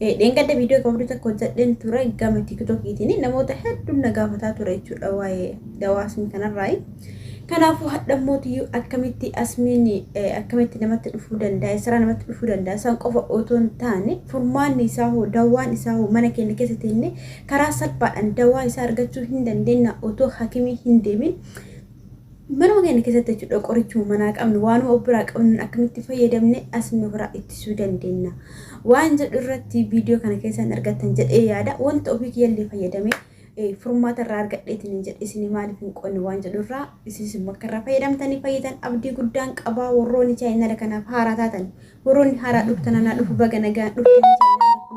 Dheengadda viidiyoo gabaabduu takka hojjedheen ture gama tiktokiitiin namoota hedduun na gaafataa ture jechuudha waa'ee dawaa asmii kanarraayi. Kanaafuu hadhammootiyyuu akkamitti asmiin akkamitti namatti dhufuu danda'a isaraa namatti dhufuu danda'a isaan qofa otoo hin taane furmaanni isaa hoo dawaan isaa hoo mana keenya keessa teenne karaa salphaadhaan dawaa isaa argachuu hin dandeenya otoo hakimii hin deemin Manuma keenya keessatti jechuudha qorichuma manaa qabnu waanuma of biraa qabnuun akkamitti fayyadamne asmii ofirraa ittisuu dandeenya waan jedhu irratti viidiyoo kana keessaan argattan jedhee yaada wanta ofii kiyyallee fayyadame eh, furmaata irraa argadheetiin hin jedhe isin maaliif hin qonne waan jedhu irraa isinis immoo akka irraa fayyadamtanii fayyitan abdii guddaan qabaa warroonni chaayinaala kanaaf haaraa taatan warroonni haaraa dhuftan anaa dhufu baga nagaan dhuftan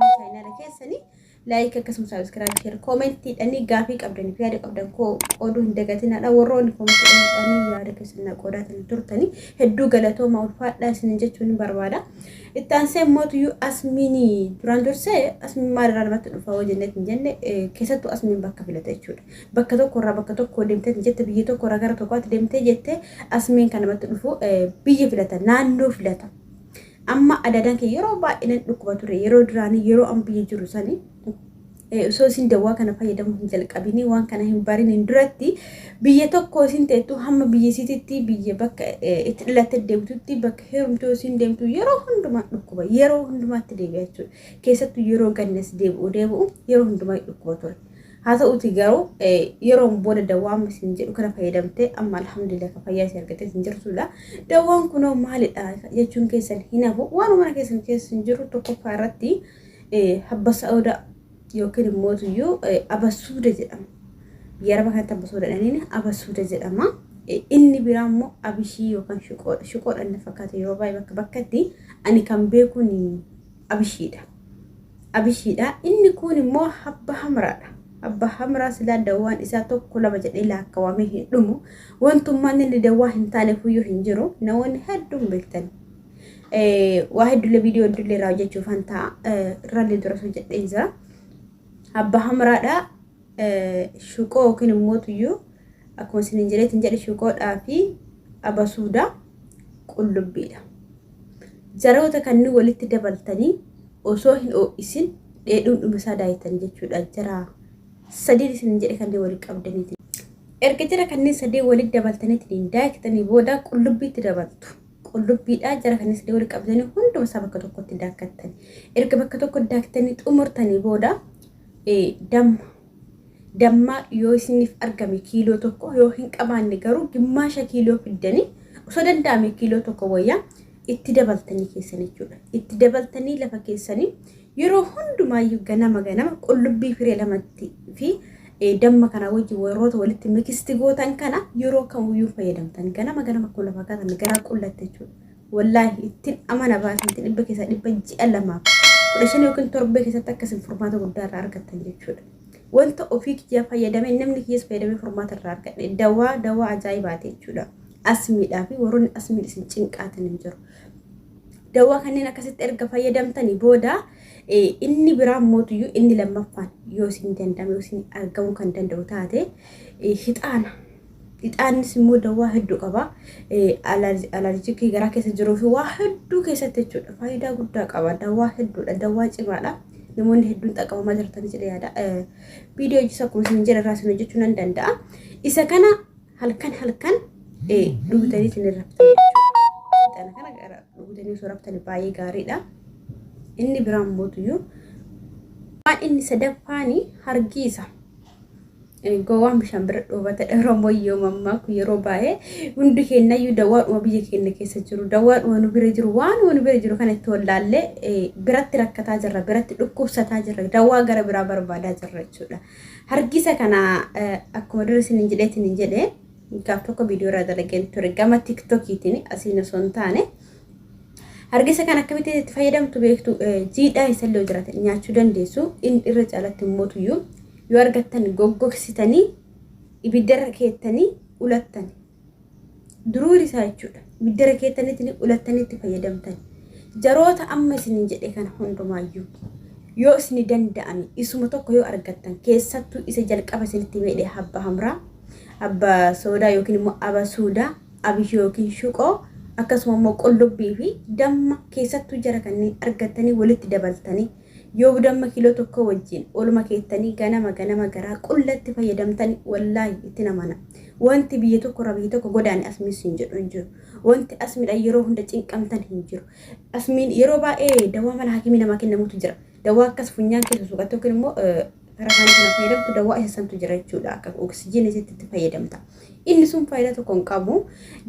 chaayinaala keessanii Like akkasuma subscribe share comment dhanii gaafii qabdaniif yaada qabdan koo qooduu hin dagatinaadha warroonni comment dhanii yaada keessan na qoodaatiin turtanii hedduu galatooma ulfaadhaa isin jechuun hin barbaada. Itti aansee mootiyyuu asmiinii duraan dursee asmiin maalirraa namatti dhufa hoo jennee hin jenne keessattuu asmiin bakka filata jechuudha. Bakka tokkorraa bakka tokko deemtee jette biyya tokkorraa gara tokkotti deemtee jette asmiin kan namatti dhufu biyya filata naannoo filata. Amma adadaan kee yeroo baay'ee nan dhukkuba ture yeroo duraanii yeroo an biyya jiru sani osoo isin dawwaa kana fayyadamuu hin jalqabinii waan kana hin bariniin duratti biyya tokko isin teettu hamma biyya isititti biyya bakka itti dhalatte deemtutti bakka heerumtoo isin deemtu yeroo hundumaa dhukkuba yeroo hundumaatti deebi'achuu keessattuu yeroo gannas deebi'u deebi'u yeroo hundumaa dhukkuba ture. Haa ta'uutii garuu yeroon booda dawwaan isin jedhu kana fayyadamtee amma alhamdulillah kan fayyaa isin argatee isin jirtudha. Dawwaan kunoo maalidha jechuun keessan hin hafu waan mana keessan keessa hin jiru tokkoffaa irratti habba sa'ooda yookiin immoo tuyyuu abasuuda jedhama. Biyya araba kanatti abasuuda jedhaniin abasuuda jedhama. Inni biraa immoo abishii yookaan shuqoodha. Shuqoodha inni fakkaata yeroo baay'ee bakka bakkatti ani kan beekuun Abishiidha Abishiidha inni kuun immoo habba hamraadha abba hamraa silaa dawwaan isaa tokko lama jedhee laakkawamee hin dhumu wantummaan inni dawwaa hin taane fuyyuu hin jiru namoonni hedduun beektan waa hedduullee viidiyoo hedduullee irraa hojjechuuf hantaa irraallee dura hojjedheen jira abba hamraadha shuqoo yookiin immoo tuyyuu akkuma isiniin jedheetiin jedhe shuqoodhaa fi abasuudaa qullubbiidha. Jaroota kanneen walitti dabaltanii osoo hin oo'isin dheedhuun dhuma isaa daayitanii jechuudha. Jaraa sadii isiniin jedhe kanneen walitti qabdaniiti. Erga jara kanneen sadii walitti dabaltaniitiin daayitanii booda qullubbiitti dabaltu. Qullubbiidhaa jara kanneen sadii walitti qabdanii hunduma isaa bakka tokkotti daakkattanii. Erga bakka tokkotti daaktanii xumurtanii booda Ee, damma. Damma yoo isiniif argame kiiloo tokko yoo hin qabaanne garuu gimmaasha kiiloo fiddanii osoo danda'ame kiiloo tokko wayyaa itti dabaltanii keessan jechuudha. Itti dabaltanii lafa keessanii yeroo hundumaayyuu ganama ganama qullubbii firee lamatti fi eh, damma kana wajjin warroota walitti mikisti gootan kana yeroo kamiyyuu fayyadamtan ganama ganama kun lafa kaatan garaa qullatte jechuudha. Wallaahi ittin amana baasanti dhibba keessaa dhibba ji'a lamaaf kudha shan yookiin torbee keessatti akka isin furmaata guddaa irraa argattan jechuudha. Wanta ofii kiyyaa fayyadame namni kiyyas fayyadamee furmaata irraa argadhe dawaa dawaa ajaa'ibaati jechuudha. Asmiidhaa fi warroonni asmiin isin cinqaatan hin jiru. Dawaa kanneen akkasitti erga fayyadamtanii booda inni biraan mootuyyuu inni lammaffaan yoo isin danda'ame yoo isin argamuu kan danda'u taate hixaana Ixaannis immoo dawaa hedduu qaba. Alarjikii garaa keessa jiruu fi waa hedduu keessatti jechuudha. Faayidaa guddaa qaba. Dawaa hedduudha. Dawaa cimaadha. Namoonni hedduun xaqabamaa jirtan jedhee yaada. Viidiyoo hojii akkuma isin jedhe irraa isin hojjechuu nan danda'a. Isa kana halkan halkan dhugutanii isin irra Ixaana kana gara dhugutanii osoo rabtani baay'ee gaariidha. Inni biraan mootuyyuu waan inni sadaffaani hargiisa. Gowwaan bishaan bira dhoobata Oromoon yoo mammaaku yeroo baay'ee hundi keenyayyuu dawwaadhuma biyya keenya keessa jiru dawwaadhuma nu bira jiru waanuma nu bira jiru kana itti wallaallee biratti rakkataa jirra biratti dhukkubsataa jirra dawwaa gara biraa barbaadaa jirra jechuudha. Hargisa kana akkuma dura isin hin jedheetiin hin jedhee gaaf tokko viidiyoo irraa dalageen ture gama tiktokiitiin asiin osoo hin taane Hargisa kan akkamitti itti fayyadamtu beektu jiidhaa isallee yoo jiraate nyaachuu dandeessu inni irra caalatti mootuyyuu yoo argattan goggogsitanii ibiddarra keettanii ulattan duruu isaa jechuudha ibiddarra keettanitti ulattanitti fayyadamtan jaroota amma isinin jedhe kana hundumaayyuu yoo isini danda'ame isuma tokko yoo argattan keessattuu isa jalqaba isinitti meedhe habba hamraa abba soodaa yookiin immoo aba suudaa Abishoo ykn shuqoo akkasuma immoo qullubbii fi damma keessattuu jara kanneen argattanii walitti dabaltanii yoo damma kiiloo tokkoo wajjiin ooluma keessanii ganama ganama garaa qullatti fayyadamtani wallaahi ittin amana wanti biyya tokko irraa biyya tokko godaane asmiin siin jedhu hin jiru wanti asmidha yeroo hunda cinqamtan hin jiru asmiin yeroo baay'ee dawaa mana hakimii namaa kennamutu jira dawaa akkas funyaan keessa suuqattee yookiin immoo gara kaanii kana fayyadamtu dawaa isa santu jira jechuudha akka oksijiin isitti itti fayyadamta inni sun faayidaa tokko hin qabu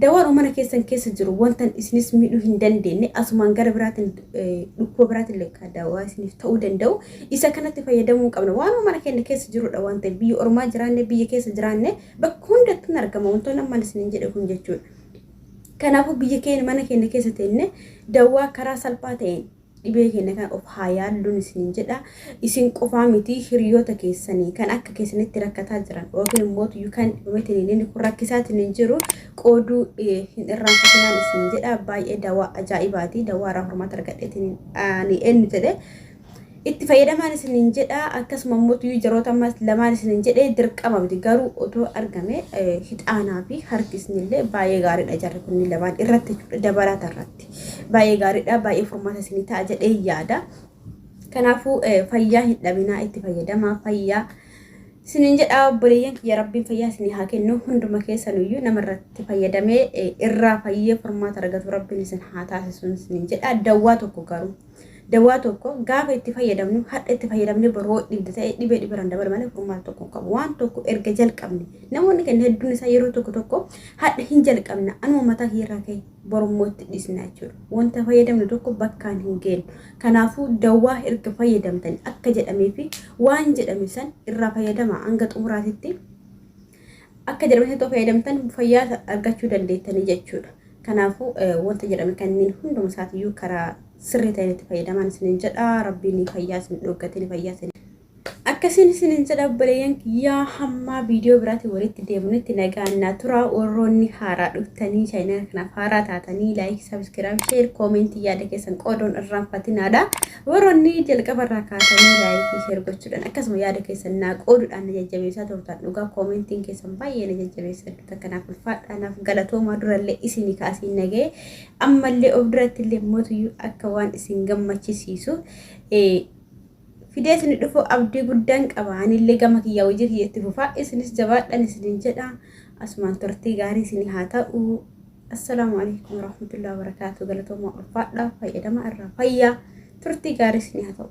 dawaan mana keessan keessa jiru wantan isinis miidhuu hin dandeenye asumaan gara biraatiin dhukkuba biraatiin lekkaa dawaa isiniif ta'uu danda'u isa kanatti fayyadamuu hin qabna waan mana keenya keessa jirudha waan ta'eef biyya ormaa jiraanne biyya keessa jiraanne bakka hundatti hin argama wantoonni ammaan isiniin jedhe kun jechuudha kanaafuu biyya keenya mana keenya keessa teenne dawaa karaa salphaa ta'een Dhibee keenya kana of haa yaalluun isiniin jedha. Isin qofaa miti hiriyoota keessanii kan akka keessanitti rakkataa jiran yookiin immoo tuyyuu kan dhibamtiniin kun rakkisaatiin jiru qooduu hin irraanfatinaan isiniin jedha. Baay'ee dawaa ajaa'ibaati. Dawaa irraa hormaata argadheetiin ani eenyu jedhe. Itti fayyadamaan isiniin jedha. Akkasuma immoo tuyyuu jaroota ammas lamaan isiniin jedhe dirqama miti garuu otoo argame hixaanaa fi harkisni illee baay'ee gaariidha jarri kunniin lamaan irratti dabalaata irratti. keessatti baay'ee gaariidha baay'ee furmaata isinii ta'a jedhee yaada kanaafuu eh, fayyaa hin dhabinaa itti fayyadamaa fayyaa isiniin jedha obboleeyyan kiyya rabbiin fayyaa isinii haa kennu hunduma keessanuyyuu nama irratti fayyadamee eh, irraa fayyee furmaata argatu rabbiin isin haa taasisuun isiniin jedha dawwaa tokko garuu Dawaa tokko gaafa itti fayyadamnu hadha itti fayyadamne boru hoo dhibde ta'e dhibee dhiberan dabalu malee furmaata tokko hin qabu. Waan tokko erga jalqabne namoonni kenna hedduun isaa yeroo tokko tokko hadha hin jalqabna anuma mataa kiirraa ka'e borummoo itti dhisna jechuudha. Wanta fayyadamnu tokko bakkaan hin geennu. Kanaafuu dawaa erga fayyadamtani akka jedhamee fi waan jedhame san irraa fayyadama hanga xumuraatitti akka jedhame tokko fayyadamtan fayyaa argachuu dandeettanii jechuudha. Kanaafuu wanta jedhame kanneen hunduma isaatiyyuu karaa sirrii ta'een itti fayyadamaan isinin jedha rabbiin fayyaa isin dhoggatiin fayyaa isin akkasiin isinin jedha obboleeyyan kiyyaa hammaa viidiyoo biraatiin walitti deemnutti nagaan naa turaa warroonni haaraa dhuftanii chaayinala kanaaf haaraa taatanii laayik sabiskiraayib sheer koomentii yaada keessan qooduun irraanfatinaadha Warroonni jalqaba irraa kaatanii laayik fi sheer gochuudhaan akkasuma yaada keessan naa qooduudhaan na jajjabeessaa turtan dhugaa koomentiin keessan baay'ee na jajjabeessa hedduu takka naaf ulfaadhaa naaf galatoomaa durallee isinii ka asiin nagee ammallee of duratti illee mootuyyuu akka waan isin gammachisiisu fidee isin dhufu abdii guddaan qaba anillee gama kiyyaa hojii kiyyatti fufaa isinis jabaadhaan isinin jedha asumaan turtii gaarii isin haa ta'u. Assalaamu alaikum warahmatullahi wabarakatuh. Galatoomaa ulfaadhaa fayyadama irraa fayyaa turtii gaarii isinii haa ta'u.